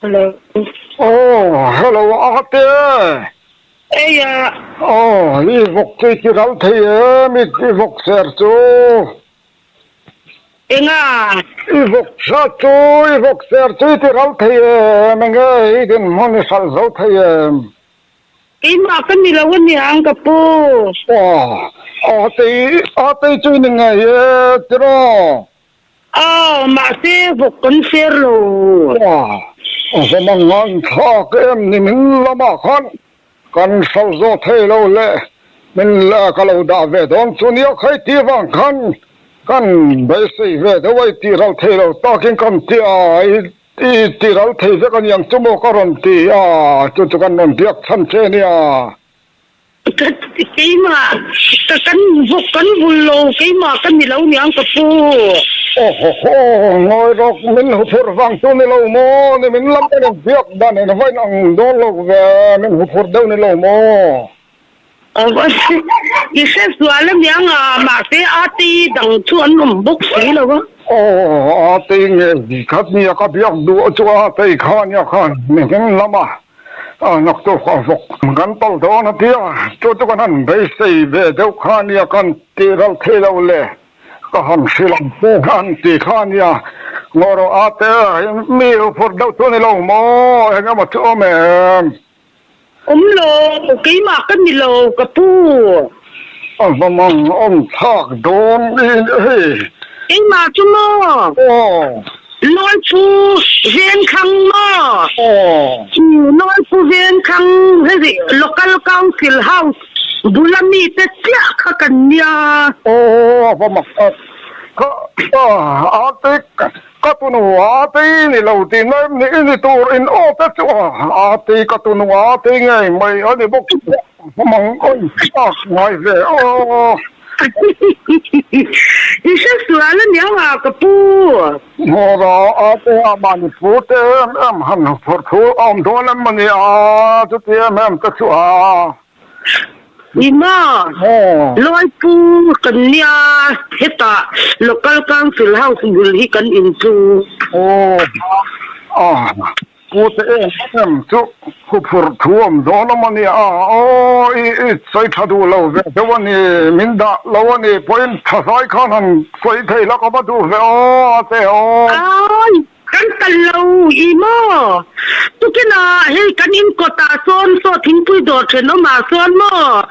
Hello. Oh, hello Ahape. Eia. Oh, i vawk chu i ti ral thei em, i vawk ser chu. Enga. I vawk hra chu, i vawk ser chu i ti ral thei em, enge i dinhmun i hralh zo thei em? Keimah ka ni lo a niang ka pu. Oh, Ahape, Ahape chu i ni ngei e, tiraw? Aw, mahse vawk kan ser lo. Aw, zam ang a inthlak em ni min la mah khan kan hral zawt thei lo le, min leh ka lo dah ve dawn chu nia khai tih vang khan kan beisei ve deuh a, i tih hral thei lo takin kan ti a, i tih hral thei vek a niang chu maw ka rawn ti a, chu chu kan rawn biak chhan che nia. Ka ti keimah ka kan bawk kan bul lo keimah ka ni lo niang ka pu. Ohoho ngawi rawk min huphurh vang tu ni lo maw ni min lam a nen biak dan in va in ang dawn lo ve min huphurh deuh ni lo maw. I hre sual a niang a mahse a tei dang chu an awm bawk si lo a. Aww a tei nge khat nia ka biak duh a chuan a tei kha nia khan min lam a. A naktuk a vawk ang kan tal dawn a tia, chu chu kan han beisei ve deuh kha a nia kan tih ral thei lo le, ka han hrilh ang se an tih kha a nia. Ngaw rawh a te hi mi uphur deuh chu a ni lo maw, eng emaw chu awm em? Awm lo, keimah ka ni lo ka pu. A hma mang awm thlak dawn i hei. Keimah chu maw Lawiphu Venkhang maw? Lawiphu Venkhang hi ri Local Council House bula mite chiah kha kan nia. Aw a hma mang a Aunty ka tunu Aunty ni lo ti na em ni? I ni tur in aw te chu Aunty ka tunu Aunty ngei mai a ni bawk. Mamang awi tak ngai ve aw. I hre sual a nia va ka pu. Hmawra ate amahni pu te em em han phawrh thu a awm dawn em a nia chuti em em te chu a. I ma Lawi pu kan nia hetah local council house bul hi kan in chu. Aw. Pu Te Engem chu khuphurh thu awm zawh hlawm a nia, Aw i i sawi tha duh lo ve deuh a ni, min dah lo a ni, pawhin thazai khan han sawi thei lak a va duh ve aw a te aw. Aw kan kal lo i maw, tukinah hei kan in kawtah sawn saw thingpui dawr then awmah sawn maw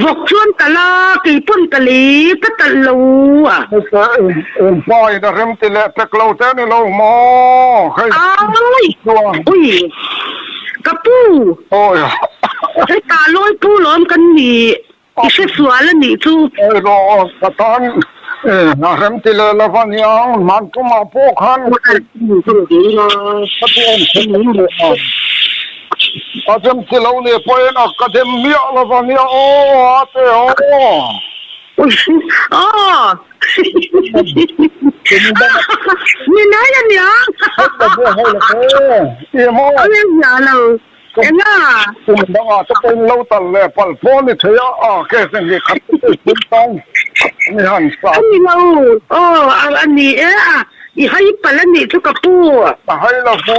vawk chuan kal a, kei pawn ka lei ka kalh lo a. Eng pa in a remti leh pek lo te ni lo maw? Hei chuan. Ui ka pu! Hei ta lawi pu lawm kan ni i hre sual a nih chu. Hei law ka tan a remti leh lo va niang hman tum ah pawh khan ka ti em khem em leh a, a remti lo leh pawh in a ka dem miah lo va nia aw ate aw. Ui aw. Ni nai a nia. Awle zia lo enga. Kum danga te pawhin lo tal leh pal pawh ni theih a case a ni khat te pawh i tum tan ani han sa. A ni lo aw a ni e a i hai pal a nih chu ka pu. A hai lo pu.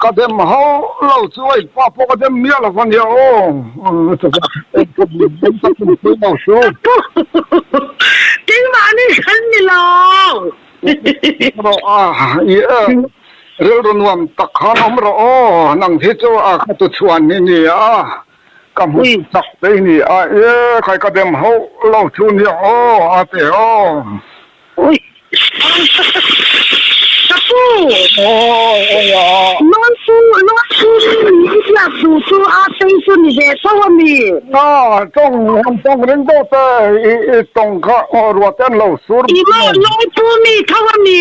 Ka dem ho lo chu a inpa pawh ka dem miah lova nia aw, keimahni khan ni lo. Rilru nuam tak khan awm rawh aw, nang hi chu ka tuchhuan ni nia. Ka hmu tak te i ni a, e khai ka dem hauh lo chu nia aw a ti aw. Ka pu! Lawn pu lawn pu min ni i biak duh chu a tei chu ni ve chauh a mi. A tawng han tawng reng deuh te i tawng kha ruate an lo sur. I mah lawn pu mi tho a mi.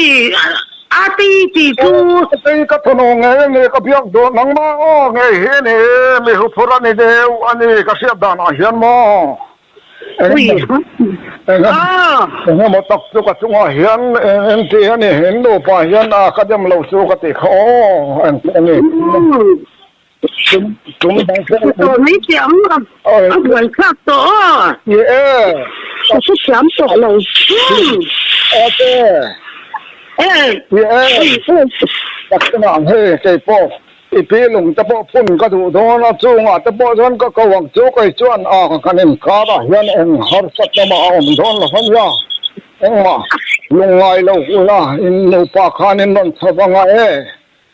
A ti ti chu. Aw Satei ka thawnaw ngei a ni ka biak duh nangmah aw ngei hi a ni mi huphur a ni deuh a ni ka hriat danah hian maw engemaw tak chu ka chungah hian engti a ni in nupa hian a ka demlo chu ka ti kha aw engti a ni. Kum bang thlak a tawh mai che ang a, a buai thlak tawh aw. Ye e. Ka hre thiam tawh lo. Ate. E. Ye e. Ka hre ang he kei pawh i pi lung te pawh phun ka duh dawn a, chungah te pawh chuan ka ko ang chu kei chuan a kan inkarah hian eng harsat lamah a awm dawn lo ania. Engmah lung ngai lo ula in nupa khan in rawn chho vang a e.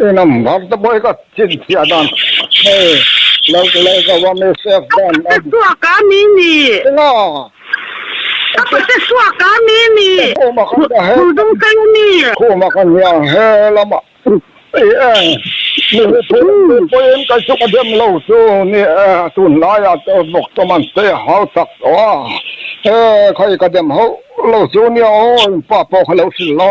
Inang bar te pawh i ka chin chhiah dan hei lo ti lo zauh a mi safe dan a ni. Ka pate suak a mi ni. Ina. Ka pate suak a mi ni. Khum a kan dah he. Khum dum kai a mi. Khum a kan niang he lama i e. Mi hi thu lam ve pawh in kai chu ka dem lo chu ni e. Tun lai ah te bawk chu man che a hau tak tawh a. He kha i ka dem hauh lo chu nia aw in pa pawh ka lo hrilh lo.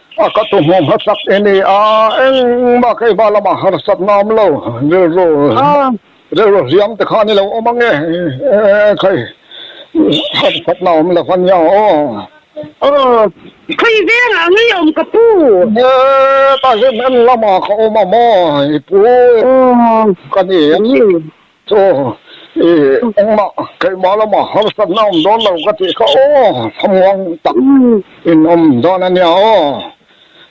A ka tu hmu hma chak e nia, engmah kei va lamah harsatna awm lo, rilru rilru hliam te khan i lo awm ang e, kei harsatna awm lo va nia aw. Aw, kei velah a ngei awm ka pu. He tahim en lamah ka awm a maw i pu? Aw, ka ni. Aw, i engmah keimah lamah harsatna awm dawn lo ka tih kha aw, thamuang tak in awm dawn a nia aw.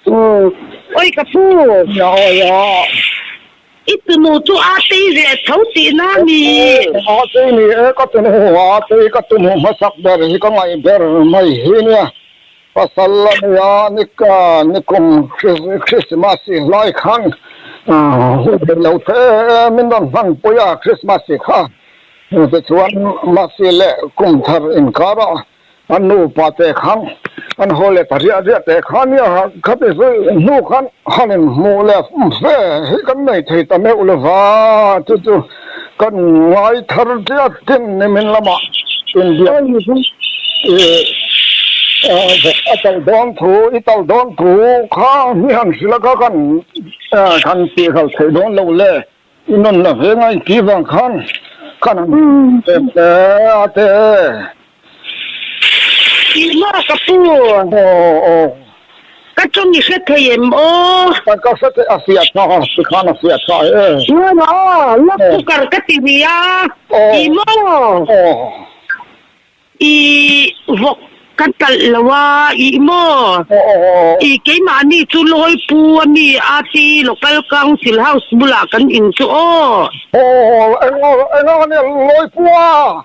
Aw, awi ka pu. Nia awi a. I tunu chu a tei ve a tho tih na ni? Aw, a tei ni e ka tunu, a tei ka tunu hmasak ber hi ka ngaih ber mai hi nia. Pasal la nia nikum Christmas i hlai khan hu thei lo the min rawn hman pui a, Christmas i kha. Tichuan Mercy leh Kumthar inkara an nupa te khan an haw let a riah riah te kha nia khati zui hnu khan han inhmuh leh fe hi kan nei thei ta meuh lova chu chu. kan ngai thar tlat chin nimin lamah inbiak ni chu ih a tal dawn thu i tal dawn thu kha ni han hrila kha kan kan ti hal thei dawn lo le i nawn la ve ngai chi vang khan kan han chep hle ate Maw ka pu? Aw aw. Ka tawng i hre thei em aw? Ka ka hre thei a si a tha a, ti khan a si a tha e. Maw maw aw, lawk chu kar ka ti ni a. I maw aw? Aw. I vawk ka talh lo a, i maw aw? Aw aw. I keimah a ni chu Lawi pu a mi a ti local council house bulah kan in chu aw. Aw aw, eng aw, eng ang a nia Lawi pu a?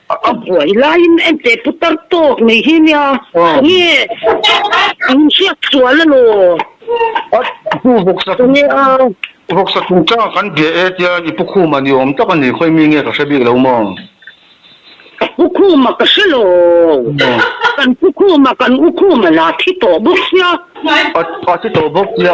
A buai laiin ente putar tawk mai hi nia, nge an hriat sual emaw? A pu vawksa tum vawksa tum changa kan bia e tiang i pukhuma ni awm tak a ni, khawi mi nge ka hre bik lo maw? Ka pukhuma ka hre lo, kan pukhuma kan ukhuma la thi tawh bawk sia. A thi tawh bawk sia.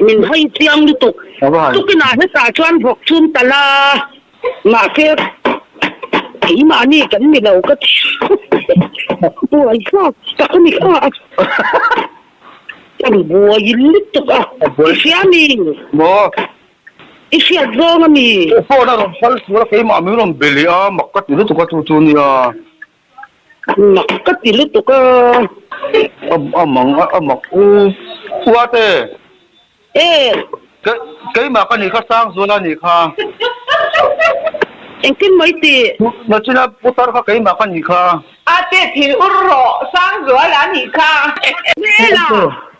min hawi chiang lutuk. Tukinah hetah chuan vawk chum ta la, mahse keimahni kan ni lo ka ti a, buai hlak tak a ni kha a, kan buai lutuk a, i hria mi? Maw? I hriat zawng a mi? Phone a rawn hal sura keimah min rawn be leh a, mak ka ti lutuk a chu chu nia. Mak ka ti lutuk a. A mang a mak u. Uate. E. Keimah ka nih kha Sangzuala a nih kha. Engtin mai ti. Na china putar kha keimah ka nih kha. Ate thil ur rawh, Sangzuala a nih kha. Hmel a.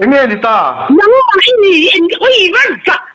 Enge ni ta? Nangmah i ni in ui vat zah.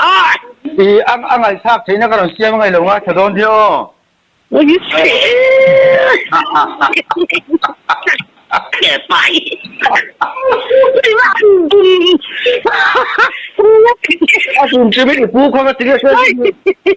I a ngaithlak theihna ka rawn siam ngei lo nga, tha dawn hi aw. A tum chimik i pu khawnga ti nge se.